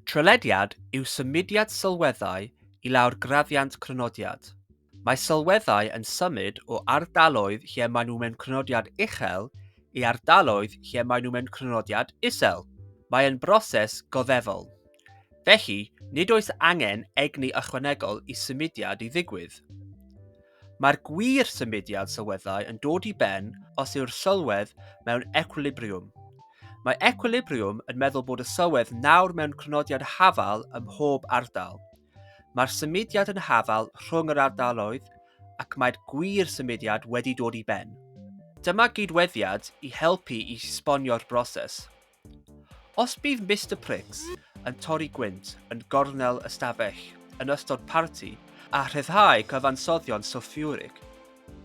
Trylediad yw symudiad sylweddau i lawr graddiant crynodiad. Mae sylweddau yn symud o ardaloedd lle maen nhw mewn crynodiad uchel i ardaloedd lle maen nhw mewn crynodiad isel. Mae'n broses goddefol. Felly, nid oes angen egni ychwanegol i symudiad i ddigwydd. Mae'r gwir symudiad sylweddau yn dod i ben os yw'r sylwedd mewn equilibriwm. Mae equilibriwm yn meddwl bod y sylwedd nawr mewn crynodiad hafal ym mhob ardal. Mae'r symudiad yn hafal rhwng yr ardaloedd ac mae'r gwir symudiad wedi dod i ben. Dyma gydweddiad i helpu i sponio'r broses. Llwyd. Os bydd Mister Pricks yn torri gwynt yn gornel y stafell yn ystod parti a rhyddhau cyfansoddion sylffiwrig,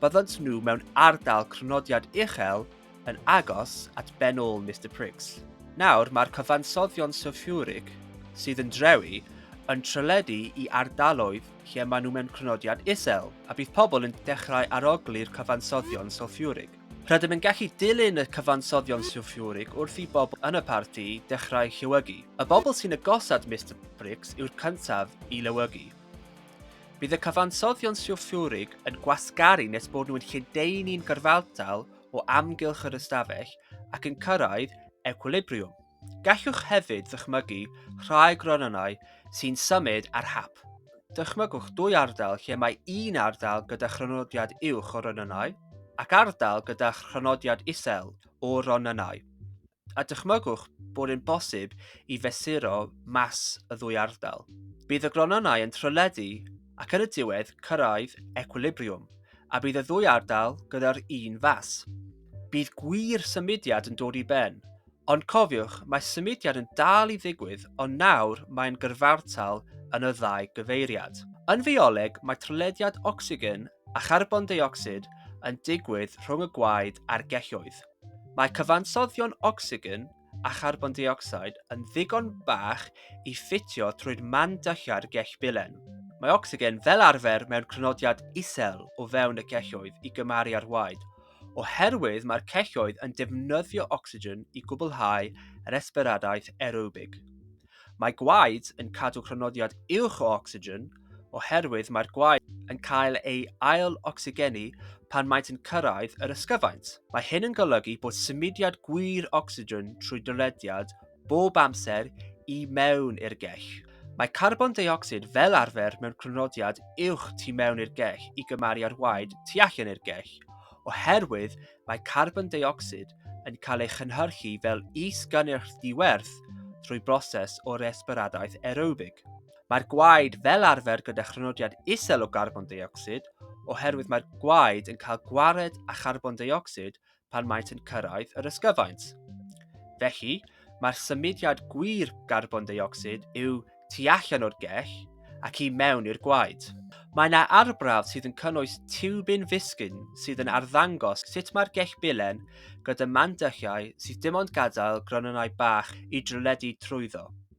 byddant nhw mewn ardal crynodiad uchel yn agos at ben ôl Mister Pricks. Nawr mae'r cyfansoddion sylffiwrig sydd yn drewi yn trylledu i ardaloedd lle maen nhw mewn crynodiad isel, a bydd pobl yn dechrau arogli'r cyfansoddion sylffiwrig. Rydym yn gallu dilyn y cyfansoddion sylffurig wrth i bobl yn y parti dechrau llewygu. Y bobl sy'n agosad Mister Briggs yw'r cyntaf i lewygu. Bydd y cyfansoddion sylffurig yn gwasgaru nes bod nhw yn lledaenu'n gyrfaldal o amgylch yr ystafell ac yn cyrraedd equilibriwm. Gallwch hefyd ddychmygu rhai gronynnau sy'n symud ar hap. Dychmygwch dwy ardal lle mae un ardal gyda chrynodiad uwch o ronynnau ac ardal gyda chrynodiad isel o ronynnau, a dychmygwch bod yn bosib i fesuro mas y ddwy ardal. Bydd y gronynnau yn trylledu ac yn y diwedd cyrraedd ecwilibriwm, a bydd y ddwy ardal gyda'r un fas. Bydd gwir symudiad yn dod i ben, Ond cofiwch, mae symudiad yn dal i ddigwydd ond nawr mae'n gyrfartal yn y ddau gyfeiriad. Yn fioleg mae trylediad ocsigen a charbon deuocsid yn digwydd rhwng y gwaed a'r gelloedd. Mae cyfansoddion ocsigen a charbon deuocsid yn ddigon bach i ffitio trwy'r man dulliau'r gell bilen. Mae ocsigen fel arfer mewn crynodiad isel o fewn y gelloedd i gymaru â'r waed, oherwydd mae'r celloedd yn defnyddio ocsigen i gwblhau resbiradaeth aerobig. Mae gwaed yn cadw crynodiad uwch o ocsigen oherwydd mae'r gwaed yn cael ei ail-ocsygenu pan maent yn cyrraedd yr ysgyfaint. Mae hyn yn golygu bod symudiad gwir ocsigen trwy dylediad bob amser i mewn i'r gell. Mae carbon deuocsid fel arfer mewn crynodiad uwch tu mewn i'r gell i gymaru â'r waed tu allan i'r gell, oherwydd mae carbon deuocsid yn cael ei chynhyrchu fel is-gynnyrch ddiwerth drwy broses o resbiradaeth aerobig. Mae'r gwaed fel arfer gyda chrynodiad isel o garbon deuocsid, oherwydd mae'r gwaed yn cael gwared â charbon deuocsid pan maent yn cyrraedd yr ysgyfaint. Felly, mae'r symudiad gwir garbon deuocsid yw tu allan o'r gell ac i mewn i'r gwaed. Mae yna arbrawf sydd yn cynnwys tiwbin fisgyn sydd yn arddangos sut mae'r gell bilen gyda mandychiau sydd dim ond gadael gronynnau bach i drwledu trwyddo.